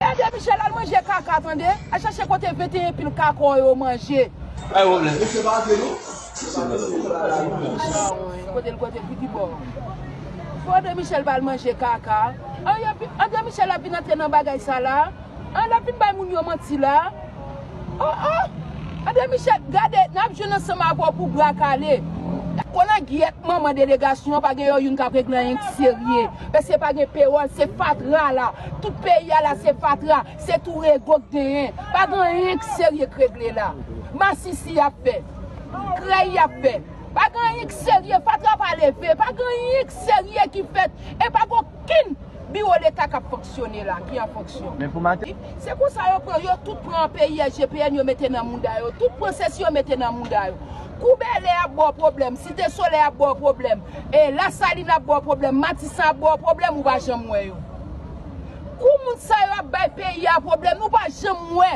Ede Michel al manje kaka tande. Al chache kote 21 pil kaka w yo manje. Pagn problm misye pa vle nou. Chawony kote l kote pou ki bò. Fò Andre Michel pa al manje kaka. An yo pi Andre Michel ap vin antre nan bagay sa la. An lap vin bay moun yo manti la. Oh oh Andre Michel gade nap jwenn ansanm avè w pou bra kale. Kolangyèt manman delegasyon an pa gen yo youn kap regle anyen ki serye. Pèske pa gen pewòl, se fatra la. Tout peyi a la se fatra, se tou rego k genyen. Pa gen anyen k serye k regle la. Masisi y ap fè. Krèy y ap fè. Pa gen anyen k serye, fatra pa leve. Pa gen anyen k serye ki fèt. E pa gen okenn biwo leta k ap fonksyone la, ki an fonksyon. Se konsa yo pran, yo tout pran anpeyi SGPN yo mete nan mouda yo. Tout pran sesi yo mete nan mouda yo. Kou Bèlè ap ba w pwoblèm, Site Solèy ap ba w pwoblèm, Lasalin ap ba w pwoblèm, Matisan ap ba w pwoblèm, ou pa janm wè yo. Kou moun sa yo ap bay peyi a pwoblèm, nou pa janm wè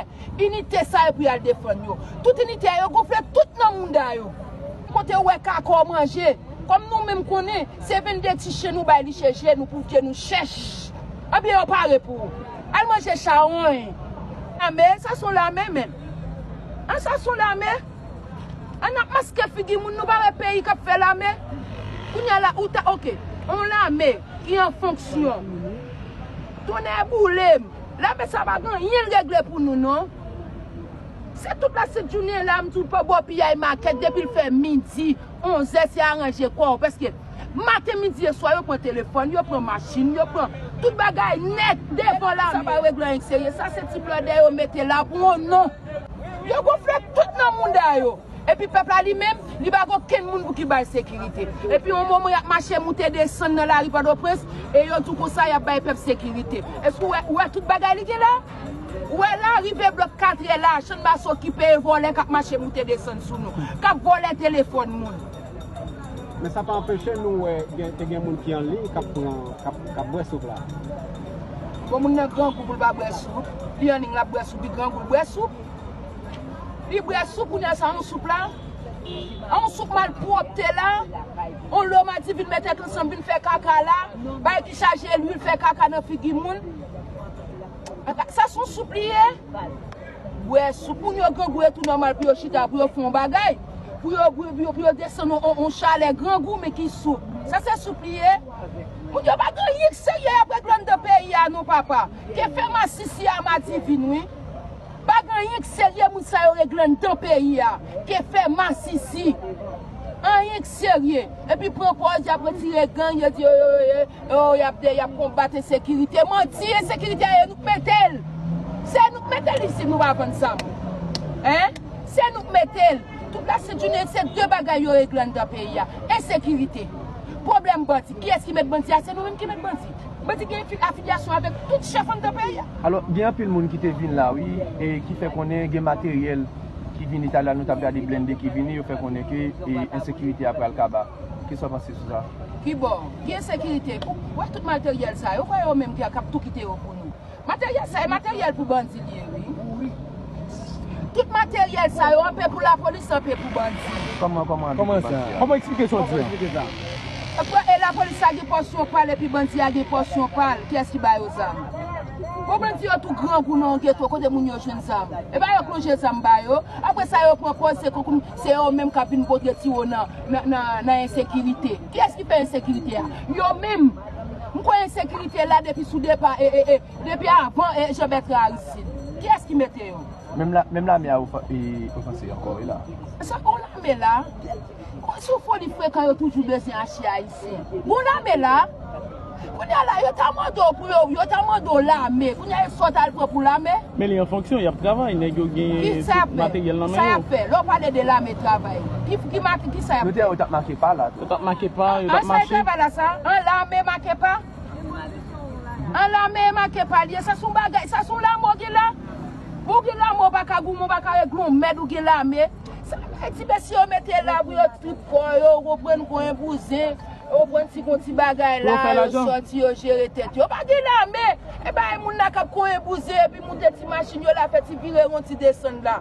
inite sa yo pou y al defann yo. Tout inite a yo gonfle tout nan mouda yo. Kote ou wè kaka w manje? Kòm nou menm konnen, se 22 ti chen nou bay li cheje nou pouke nou chèch. Ebyen yo pare pou ou. Al manje chawony. Lame? Sa son lame menm? An sa son lame? An ap maske figi moun nou pa wè peyi kap fè lame kounya la ou ta ok yon lame ki an fonksyon tonnè boulem lame sa pa gen anyenl regle pou nou non se tout la sent jounen la m tou pa bò piyay makèt depil fè midi onzè se aranje kòw paske maten midi e swa yo pran telefòn yo pran machin yo pran tout bagay nèt devan lame sa pa regle anyen serye sa se ti blòdè yo mete la pou yon non. Yo gonfle tout nan mouda yo. Epi pèp la li menm, li pa gen okenn moun pou ki ba l sekirite. Epi yon moman y ap mache moute desann nan lari Pòtoprens, e yo di w konsa y ap bay pèp sekirite. Èske ou wè, ou wè tout bagay li gen la? Ou wè la, rive blòk katrè la, channmas okipe e vòlè k ap mache moute desann sou nou. K ap vòlè telefòn moun. Men sa pa anpeche nou wè te gen moun ki an liy k ap pran, k ap bwè soup la. Bon moun nan grangou pou l pa bwè soup, li an liy l ap bwè soup, li grangou l bwè soup. Li bwè soup kounye a sa yon soup la? A yon soup malpwòpte la? Yon lomati vin met tèt ansanm vin fè kaka la, bagay ki chaje lwil fè kaka nan figi moun. Sa s yon soup li ye? Wè sou pou yo grangou e tou nòmal pou yo chita pou yo fè yon bagay, pou yo pou yo desann yon chalè grangou men ki soup. Sa se soup li ye? Moun yo pa gen anyen k serye yap regle anndan peyi a non papa. Ke fè masisi a madivin wi. Pa gen anyen k serye moun sa yo regle anndan peyi a. Ke fè masisi. Anyen k serye. Epi pran pòz yap retire gang yo di yo yo yo. Oh yap de yap konbat ensekirite manti ensekirite a e nou k metel se nou k metel isit nou pa vann zam hein se nou k metel tout la sent jounen se de bagay yo regle anndan peyi a ensekirite problèm bandi kiyès ki met bandi a se nou menm ki met bandi bandi gen afilyasyon avèk tout chèf anndan peyi a. Alò gen anpil moun ki te vin la wi e ki fè konnen gen materyèl ki vini talè a nou tap gade blende ki vini yo fè konnen ke ensekirite a pral kaba. Kisa w panse sou sa? Kibò? Ki ensekirite? Ou wè tout materyèl sa yo? Ou kwè yo menm ki ap tou kite yo pou nou? Materyèl sa yo, materyèl pou bandi li ye wi. Tout materyèl sa yo, anpe pou lapolis, anpe pou bandi. Kòman, kòman anpe pou bandi a? Kòman sa? Kòman eksplike sa w di a? Kòman eksplike sa a? Pwa e lapolis la gen pòsyon pa l epi bandi a gen pòsyon pa l. Kiyès ki ba yo zam? Bon bandi yo tou grangou nan yon geto, kote moun yo jwenn zam? E ba yo k lonje zam ba yo. Apre sa yo pran pòz se kòm se yo menm k ap vin pote tiwo nan. nan ensekirite. Kiyès ki fè ensekirite a? Yo menm! M kwè ensekirite la depi sou depa e depi avan Jean Bertrand Aristide. Kiyès ki mete yo? Menm lame a ofanse ankò wi la. Sa bon lame la? Sou foli frekan yo toujou bezyen achte Ayisyen. Merci. Bon lame la? Kounya la yo ta mande w pou yo yo ta mande w lame kounya e sa w t al pran pou lame? Men li an fonksyon, yap travay, nèg yo gen materyèl nan men yo. Kisa yap fè? Lè w pale de lame travay, ki make kisa yap fè? Yo tap make pa la tou. Yo tap make pa, yo tap mache. An sa yo travay la sa? An lame make pa? An lame e make pa li ye? Sa se yon bagay, sa se yon lame w gen la? Ou gen lame ou pa ka goumen, ou pa ka regle yon mèd ou gen lame? Sa bay ti mesye yo mete la pou yo trip kò yo, ou konprann konyen bouzen, ou konprann ti gon ti bagay la, yo sòti yo jere tèt yo. Pa gen lame, e bay moun la kap konyen bouzen epi moute ti machin yo la fè ti vire won ti desann la.